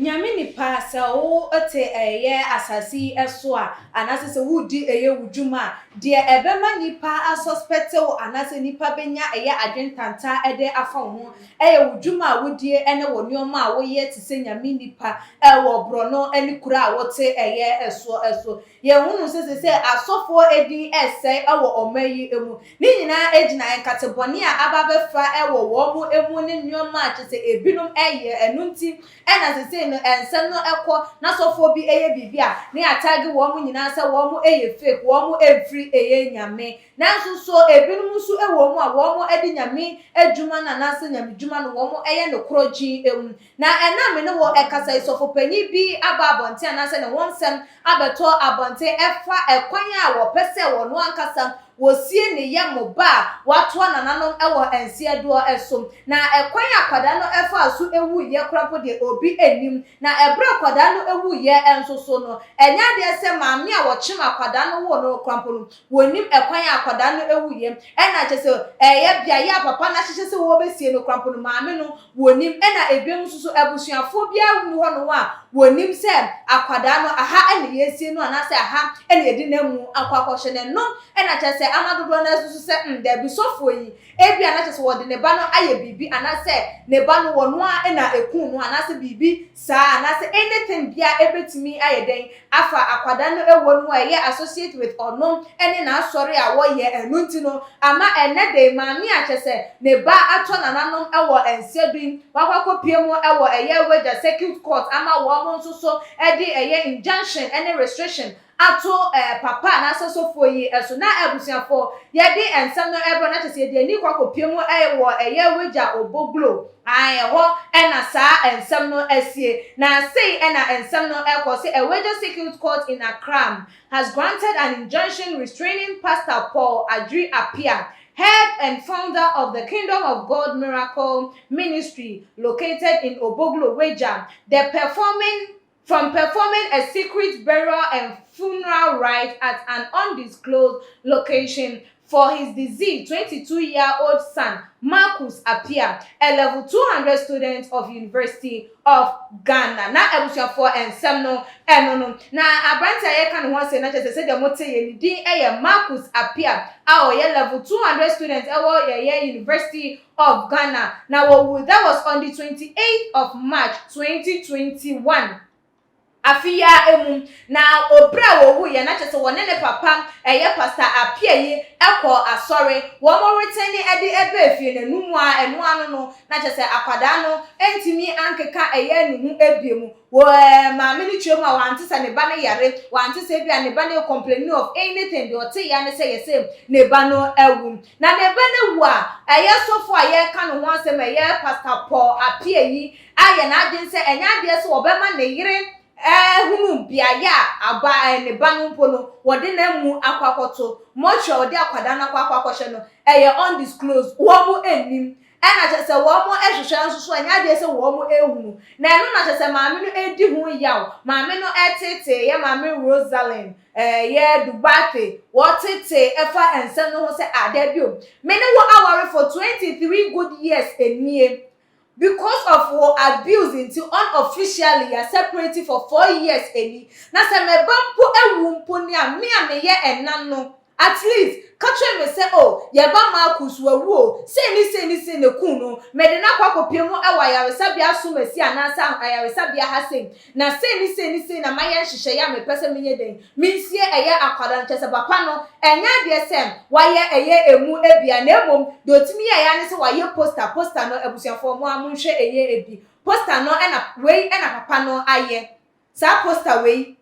Nyame nipa, sɛ wo te ɛyɛ asase yi so a, anaasɛ sɛ wo di ɛyɛ wo dwuma a, deɛ ɛbɛma nipa a suspect wo anaasɛ nipa bɛnya ɛyɛ adwene tanta de afa wo ho, ɛyɛ wo dwuma a wo die ɛne wo nnoɔma a wo yɛ te sɛ Nyame nipa ɛwɔ borɔno ɛne kuro a wo te ɛyɛ soɔ so. Yɛhunu sɛ seesei asɔfoɔ din resɛe wɔ ɔman yi mu. Ne nyinaa ɛgyina nkate bɔne a aba abɛfa wɔ wɔn mu ne nnoɔma a kyerɛ sɛ ɛbinom yɛ. Ɛno nti na seesei no nsɛm no kɔ na sɔfoɔ bi yɛ biribi a na yɛatagge wɔn nyinaa sɛ wɔn yɛ fake, wɔn mfiri yɛ Nyame. Nanso so ɛbinom nso wɔ mu a wɔn de Nyame adwuma no anaasɛ Nyame dwuma no wɔn yɛ no korɔgyee mu? Na ɛnnɛ a me ne wo rekasa yi, sɔfopanyin bi aba abɔnten anaasɛ ne ho nsɛm abɛtɔ abɔnten ɛfa ɛkwan a wɔpɛ sɛ wɔno ankasa wɔsie ne yɛ mo ba a wɔatoa nananom wɔ nseɛdoɔ so. Na ɛkwan a akwadaa no faa so wuiɛ koraa mpo deɛ obi nnim. Na ɛberɛ a akwadaa no wuiɛ nso so no, ɛnyɛ adeɛ sɛ maame a wɔkyem akwadaa no woo no koraa mpo no, Wɔnnim ɛkwan a akwadaa no wuiɛ. Ɛna kyerɛ sɛ ɛyɛ beaeɛ a papa no ahyehyɛ sɛ wɔbɛsie no koraa mpo no, maame no, wɔnnim. Ɛna ebinom nso so, abusuafoɔ biara nni hɔnom a wɔnim sɛ akwadaa no, aha na yɛresie no anaasɛ aha na yɛde no amu akɔ akɔhyɛ no. Ɛno na kyerɛ sɛ ama dodoɔ no ara susu sɛ, hmm, dabi, sɔfoɔ yi, ebia na kyerɛ sɛ wɔde ne ba no ayɛ biribi anaasɛ ne ba no, wɔno ara na ɛkum no anaasɛ biribi saa anaasɛ anything biara ɛbɛtumi ayɛ dɛn afa akwadaa no ɛwɔ no mu a ɛyɛ associate with ɔno ɛne n'asɔre a wɔyɛ ɛno nti no ama ɛnnɛ dɛn maame a kyɛsɛ ne ba atɔ nananom ɛwɔ nsɛdui wakɔ akɔpie mu ɛwɔ ɛyɛ wagya circuit court ama wɔn nso so ɛde ɛyɛ injunction ɛne restriction ato eh, papa anaasɛ sɔfoɔ yi so na abusuafoɔ yɛde nsɛm no ɛbrɛ no na kyerɛ sɛ yɛde ani kɔ akɔpie mu eh, wɔ ɛyɛ Wagya Obo Glo ae ɛhɔ na saa nsɛm no asie na sei na nsɛm no ɛkɔ sɛ Awagya Circuit Court in Accram has granted an injunction restraining Pastor Paul Adjri Appiah head and founder of the Kingdom of God Miracle Ministry located in Obo Glo Wagya the performing from performing a secret burial and funeral rites at an undisclosed location for his deceased twenty two year old son Marcus Appiah, a level two hundred student of University of Ghana. Na abusuafoɔ nsɛm no ɛno no. Na aberante a yɛka ne ho asɛm no kyerɛ sɛ sɛdeɛ mote yɛ ne din yɛ Marcus Appiah a ɔyɛ level two hundred student ɛwɔ yɛyɛ University of Ghana na wɔwuo that was on the twenty eight of March twenty twenty one afe yi ara ɛmu na ɔbrɛ a wɔwu yɛ na kyɛ sɛ wɔne ne papa ɛyɛ Pastor Appiah yi ɛkɔɔ asɔre wɔn reten ne ɛde ɛbɛ efie na ɛnu mu ara ɛno ano no na kyɛ sɛ akwadaa no ɛntumi ankeka ɛyɛ ne ho ɛbie mu wɔ maame no kyerɛ mu a wɔante sɛ ne ba no yare wɔante sɛ ɛbi a ne ba no ɛcomplaini of anything deɛ ɔte yɛ ne sɛ yɛ sɛ ne ba no awu Na ne ba no wu a, ɛyɛ sɔfo a yɛreka ne ho asɛm a ɛyɛ Pastor Paul Appiah yi ayɛ n'adwene sɛ ɛnyɛ adeɛ sɛ ɔbɛma ne yere ahunu beaeɛ a aba ɛɛ ne ba no mpo no wɔde no amu akɔ akɔto, mortuary a wɔde akwadaa no akɔ akɔ akɔhyɛ no ɛyɛ undisclosed, wɔn nnim. Ɛna kyerɛ sɛ wɔn hwehwɛ nso so ɛnyɛ adeɛ sɛ wɔn hunu. Na ɛno na kyerɛ sɛ maame no redi ho yaw, maame no teeteeɛ, maame Rosalynn. Ɛyɛ Duarte, wɔtetee fa nsɛm no ho sɛ, Ah, daabio, me ne wo aware for twenty three good years nie. Because of wo abuse nti unofficially yɛ separate for four years ni. Na sɛ me ba mpo wu mpo ni a, me a meyɛ ɛna no, at least, ka kyerɛ me sɛ, Oh, yɛn ba Marcus wawu o, sei ne sei ne sei na ɛkuu no, mede no akɔ akɔpia mu wɔ ayaresabea Asomasi anaasɛ ayaresabea ha sei, Na sei ne sei ne sei na mayɛ nhyehyɛeɛ a mepɛ sɛ menyɛ dɛn? Mensie ɛyɛ akwadaa no. Kyerɛ sɛ papa no, ɛnyɛ adeɛ sɛ wayɛ ɛyɛ ɛmu biara na mmom deɛ ɔtumi yɛeɛ ara ne sɛ wayɛ poster. Poster no, abusuafoɔ mo ara monhwɛ ɛyɛ bi. Poster no na wei na papa no ayɛ. Saa poster wei.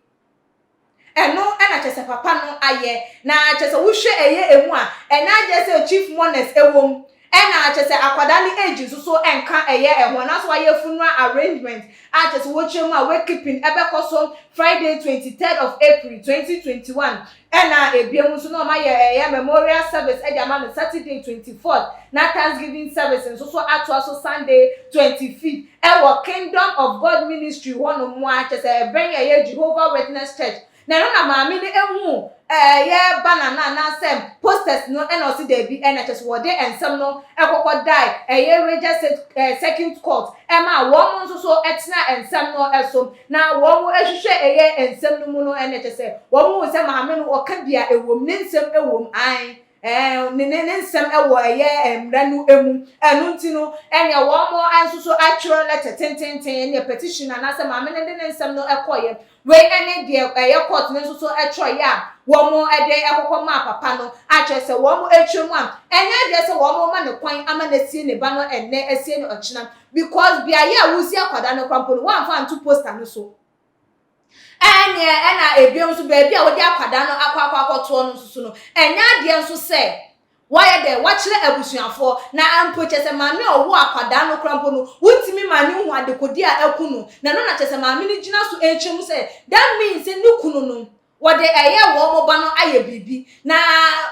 Ɛno na kyerɛ sɛ papa no ayɛ na kyerɛ sɛ wohwɛ ɛyɛ emu a ɛnyɛ adeɛ sɛ chief mourner's ɛwom ɛna kyerɛ sɛ akwadaa no age nso so ɛnka ɛyɛ ɛho anaasɛ wayɛ funeral arrangement a kyerɛ sɛ wokyerɛ mu a wake keeping ɛbɛkɔ so Friday twenty third of April twenty twenty one ɛna ɛbiam nso na wɔayɛ ɛyɛ memorial service ɛde ama no Saturday twenty fourth na Thanksgiving service nso so atoa so Sunday twenty fifth Ɛwɔ Kingdom of God Ministry hɔnom ara, kyerɛ sɛ, ɛbɛn yɛn, ɛyɛ Jehovah Witness Church, na ɛhɔ na maame no huu yɛ banner no anaasɛ posters no na ɔse dabi, ɛna kyerɛ sɛ, wɔde nsɛm no kɔkɔ dae ɛyɛ Raja Circuit Court ma wɔn nso so tenaa nsɛm no so, na wɔn hwehwɛ ɛyɛ nsɛm no mu no, ɛna kyerɛ sɛ, wɔn huu sɛ maame no ɔka bi a ɛwom, ne nsɛm wom, aane. ne ne ne nsɛm wɔ ɛyɛ mmara no mu. Ɛno nti no, ɛnea wɔn nso so atwerɛ lɛtɛ tententen, ɛnneɛ petition anaasɛ maame no de ne nsɛm no kɔeɛ. Wei ne deɛ ɛyɛ court no nso so twerɛeɛ a wɔde kɔkɔ maa papa no, a kyerɛ sɛ wɔatwa mu a, ɛnyɛ adeɛ sɛ wɔma no kwan ama no asie ne ba no ɛnnɛ asie no ɔkyena, because beaeɛ a wosi akwadaa no koraa mpo no, wɔamfa anto poster no so. Ɛnneɛ ɛna ebiom nso baabi a wode akwadaa no akɔ akɔ akɔtoɔ no nso no, ɛnyɛ adeɛ nso sɛ woayɛ dɛn, woakyerɛ abusuafoɔ. Na mpo kyerɛ sɛ maame a ɔwoo akwadaa no koraa mpo no, wontumi ma no nhu adekodeɛ a aku no. Na ɛno na kyerɛ sɛ maame no gyina so kyerɛ mu sɛ, that means sɛ ne kunu no, wɔde ɛyɛ wɔn ba no ayɛ biribi. Na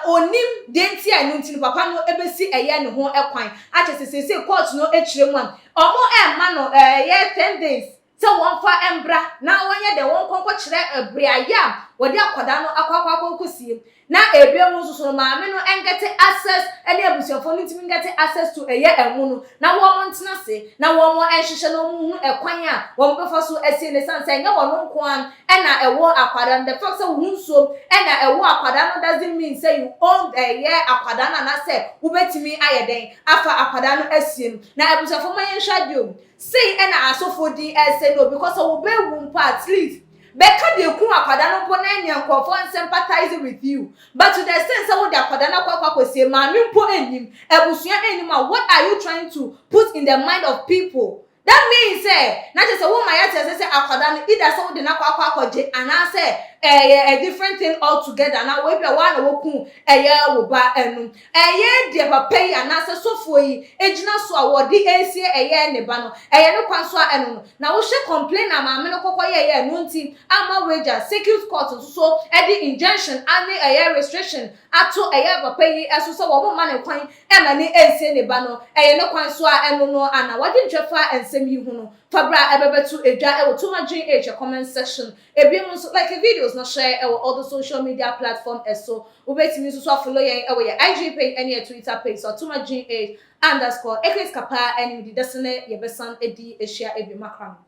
ɔnnim deɛ nti a ɛno nti no papa no bɛsi ɛyɛ no ho kwan. Akyerɛ sɛ seesei court no kyerɛ mu a, wɔmma no ɛyɛ ten days. sɛ wɔmfa mbra na wɔnyɛ dɛ wɔnkɔ nkɔkyerɛ beaeɛ a wɔde akwadaa no akɔ akɔ akɔsie na ebiom nso so no maame no ngɛte access ɛne abusuafoɔ no ntumi ngɛte access to ɛyɛ ɛmo no na wɔn ntena ase na wɔn nhyehyɛ na wɔn nhunu ɛkwan a wɔn bɛfa so asie no ɛsiane sɛ ɛnyɛ wɔn nko ara ɛna ɛwɔ akwadaa no the fact sɛ wohu nsuo ɛna ɛwɔ akwadaa no doesn't mean sɛ you own ɛyɛ akwadaa no anaasɛ wobɛtumi ayɛ dɛn afa akwadaa no asie no na abusuafoɔ ma yɛnhwɛ adeɛ o Sei na asɔfoɔ din ɛsɛ no obi kɔ sɛ wo bɛ wu mpo at least bɛ ka deɛ ɛkuu akwadaa no mpo na ɛneɛ nkorɔfoɔ nsympathize with you but to the extent sɛ wode akwadaa no akɔ akɔ sie maame mpo nnim abusua nnim a what are you trying to put in the mind of people that means sɛ na kyerɛ sɛ wo ma yɛate aseɛ sɛ akwadaa no either sɛ wode no akɔ akɔ akɔ gye anaa sɛ ɛyɛ a different thing all together anaa wei bia wo ara na wo kuu ɛyɛ wo ba ɛno Ɛyɛ deɛ papa yi anaasɛ sɔfoɔ yi gyina so a wɔde resie ɛyɛ ne ba no, ɛyɛ ne kwan so a ɛno no na wohyɛ complain a maame no kɔkɔyɛeɛ a ɛno nti ama wagya circuit court nso so de injunction ne ɛyɛ restriction ato ɛyɛ papa yi so sɛ wɔn mma no kwan mma no nsie ne ba no ɛyɛ ne kwan so a ɛno no a na wagye nkyɛ fa nsɛm yi ho no fa berɛ a ɛbɛbɛto dwa wɔ Tomadwin H comment section Ebinom so like videos no hyɛ wɔ all the social media platform so. Wobetumi nso so afollow yɛn wɔ yɛn IG page ne yɛn Twitter page so atom at gh underscore Ecrit Kapaa anim di dɛse ne yɛbɛsan adi ahyia bio makra no.